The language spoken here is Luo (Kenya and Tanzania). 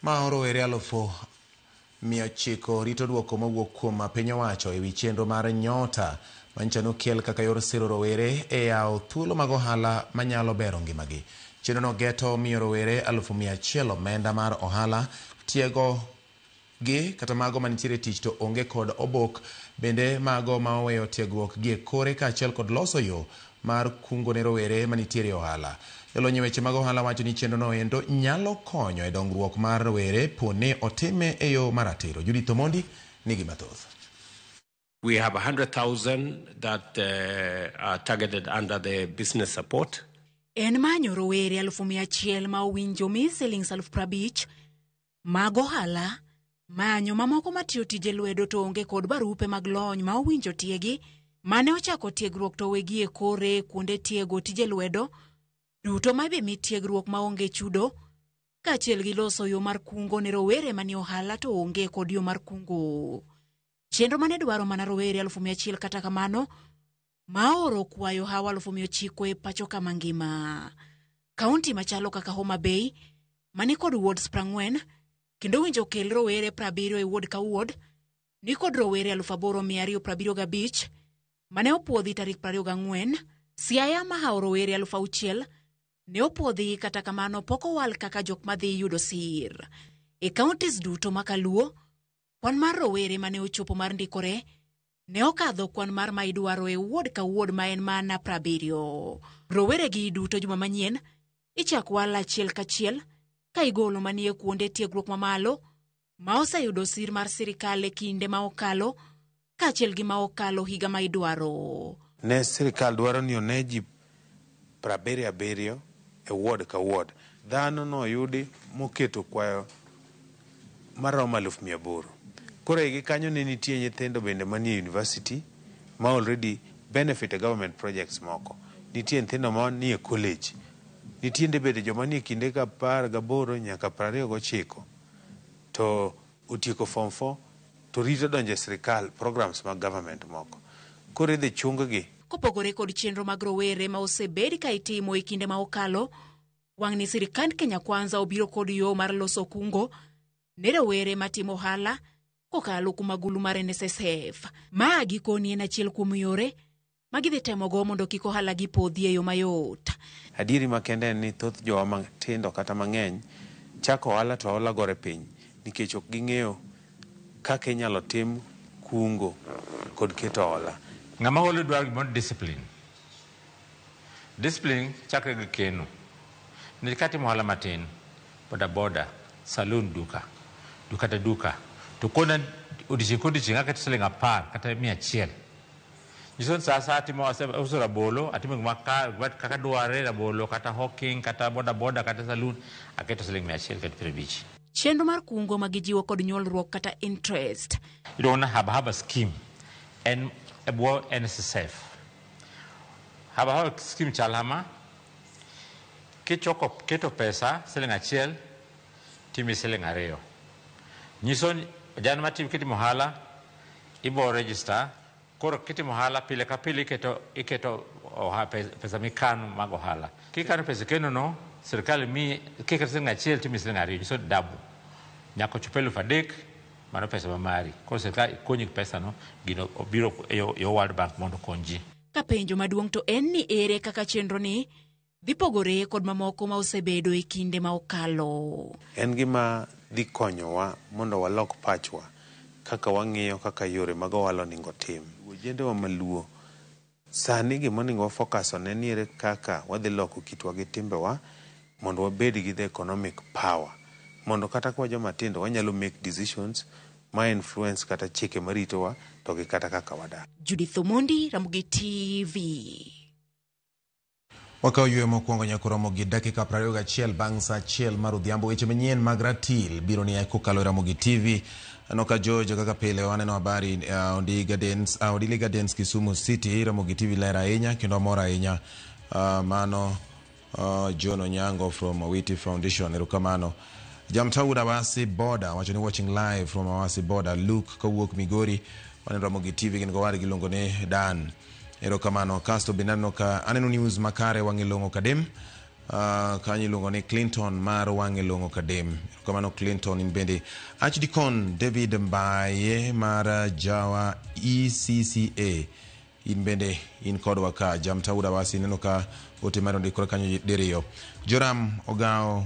Mao rowere alufu mia ochiko rito duoko mowuok kuom piny owacho ewi chenro mar Nyota manyicha nokel kaka yor siro rowere e yawo thuolo mag ohala manyalo bero ngimagi. Chenrono geto miyo rowere alufu mia achiel omenda mar ohala, tiego gi, kata mago manitiere e tich to onge kod obok, bende mago ma oweyo tiegruok gi e kore kaachiel kod loso yo mar kungo ne rowere manitiere e ohala. Jolony e weche mag ohala wacho ni chenro no endo nyalo konyo e dongruok mar rowere po ni otime e yo maratiro. Judith Omondi nigi mathoth. We have 100,000 that uh, are targeted under the business support. En manyo rowere alufu mia achiel ma owinjo mi silings alufu prabich mag ohala manyo mamoko matiyo tije lwedo to onge kod barupe mag lony ma owinjo tiegi mane ochako tiegruok to wegi e kore kuonde tiego tije lwedo duto ma ibimi tiegruok ma onge chudo kaachiel gi loso yo mar kungo ne rowere manie ohala to onge kod yo mar kungo chenro mane dwaro mana rowere alufu mia achiel kata kamano maoro kwayo hawa alufu mia ochiko e pacho ka mangima kaunti machalo kaka homa bay mani kod wards prang'wen kendo winjo kel rowere prabiriyo e ward ka ward ni kod rowere alufu aboro mia ariyo prabiriyo gabich mane opwodhi tarik prariyo gang'wen siaya mahawo rowere alufu auchiel ne opwodhi kata kamano pok owal kaka jok madhi yudo sir e counties duto makaluo Kwan mar rowere mane ochopo mar ndikore ne okadho kwan mar ma idwaro e wuod ka wuod ma en mana prabiriyo. Roweregi duto juma manyien ichak wal achiel kachiel ka igolo manie kuonde tiegruok mamalo ma oseyudo sir mar sirikal e kinde ma okalo kaachiel gi ma okalo higa ma idwaro. Ne sirkal dwaro ni one ji prabiriyo abiriyo e ward ka ward. Dhano noyudi moketo kwayo maromo aluf mia aboro. Koro ei gi kanyo ne nitie nyithindo bende manie university ma already benefit e government projects moko. Nitie nyithindo manie college. Nitiende bende joma nie kinde ka apar gaboro nyaka prariyo gochiko. To. Otieko form four to rito donjo e sirkal, programs mag government moko koro idhi chung gi. Kopogore kod chenro mag rowere ma osebed ka itimo e kinde ma okalo, wang'ni sirkand Kenya Kwanza obiro kod yoo mar loso kungo ne rowere ma timo ohala kokalo kuom agulu mar NSSF. Ma gikoni en achiel kuom yore ma gidhi temogo mondo kik ohalagi podhi e yo mayot. Adieri makende en ni thoth jowa matindo kata mang'eny chako ohala to hola gore piny nikech ok ging'eyo kaka inyalo tim kungo kod keto hola. Ng'ama holi dwaro gimoro ni discipline. Discipline chakre gi keno. Nikech ka atimo ohala matin, boda boda, saloon, duka, duka to duka, to kona odiochieng' ka odiochieng' aketo siling' apar kata mia achiel, Nyiso ni sa asaya atimo ase- auso rabolo, atimo gima ka- gima kaka dwarre, rabolo kata hawking kata boda boda kata saloon, aketo siling mia achiel kod piero abich. Chenro mar kungo ma gijiwo kod nyuolruok kata interest. Iluongo ni Haba Haba Scheme en e bwo NSSF. Haba Haba Scheme chal kama, kichoko keto pesa siling achiel timi siling ariyo. Nyiso ni jan matimo kitimo ohala ibo register Koro kitimo ohala pile ka pile iketo, iketo oha, pe- pesa mikano mag ohala. Kikano pesa ikenono, sirkal miyi kiketo siling' achiel timiyi siling' ariyo, nyiso ni double. Nyaka ochop elfu adek, mano pesa ma mari. Koro sirkal konyi gi pesano, gino obiro e yo- e yo World Bank mondo okony ji. Ka penjo maduong' to en ni ere kaka chenroni dhi pogore kod mamoko ma osebedo e kinde ma okalo. En gima dhi konyowa mondo walok pachwa kaka wang'iyo kaka yore mag ohala oningo otim. E ojendewa ma Luo, sani gima oningo wa focus on en ni ere kaka wadhi loko kitwa gi timbewa mondo wabed gi the economic power mondo kata ka wajo matindo wanyalo make decisions ma influence kata chike ma ritowa to gi kata kaka wadak. Judith Omondi, Ramogi TV. Wakawo yueyo mokwongo nyaka oromo gi dakika prariyo gachiel bang' sa achiel mar odhiambo. Weche manyien mag ratil biro ni kokalo e Ramogi TV. Aneno ka George kaka pile waneno habari uh, Ondi Gardens, uh, Odili Gardens Kisumu City. Ramogi TV ler ahinya kendo amor ahinya. Uh, mano uh, John Onyango from Awiti Foundation. Erokamano. Jamtawuda Awasi Border wacho ni watching live from Awasi Border. Luke kawuok Migori waneno Ramogi TV gin gowargi iluongo ni Dan. Erokamano. Kasto bende aneno ka aneno news makare wang'e long'o kadem. Uh, kanyo iluongo ni Clinton mar wang'e long'o kadem. Erokamano Clinton in bende. Archdicon David Mbaye mar uh, Jawa ECCA in bende in kodwa ka jamtaura wasi neno ka ote mar ondikore kanyo diriyo. Joram Ogawo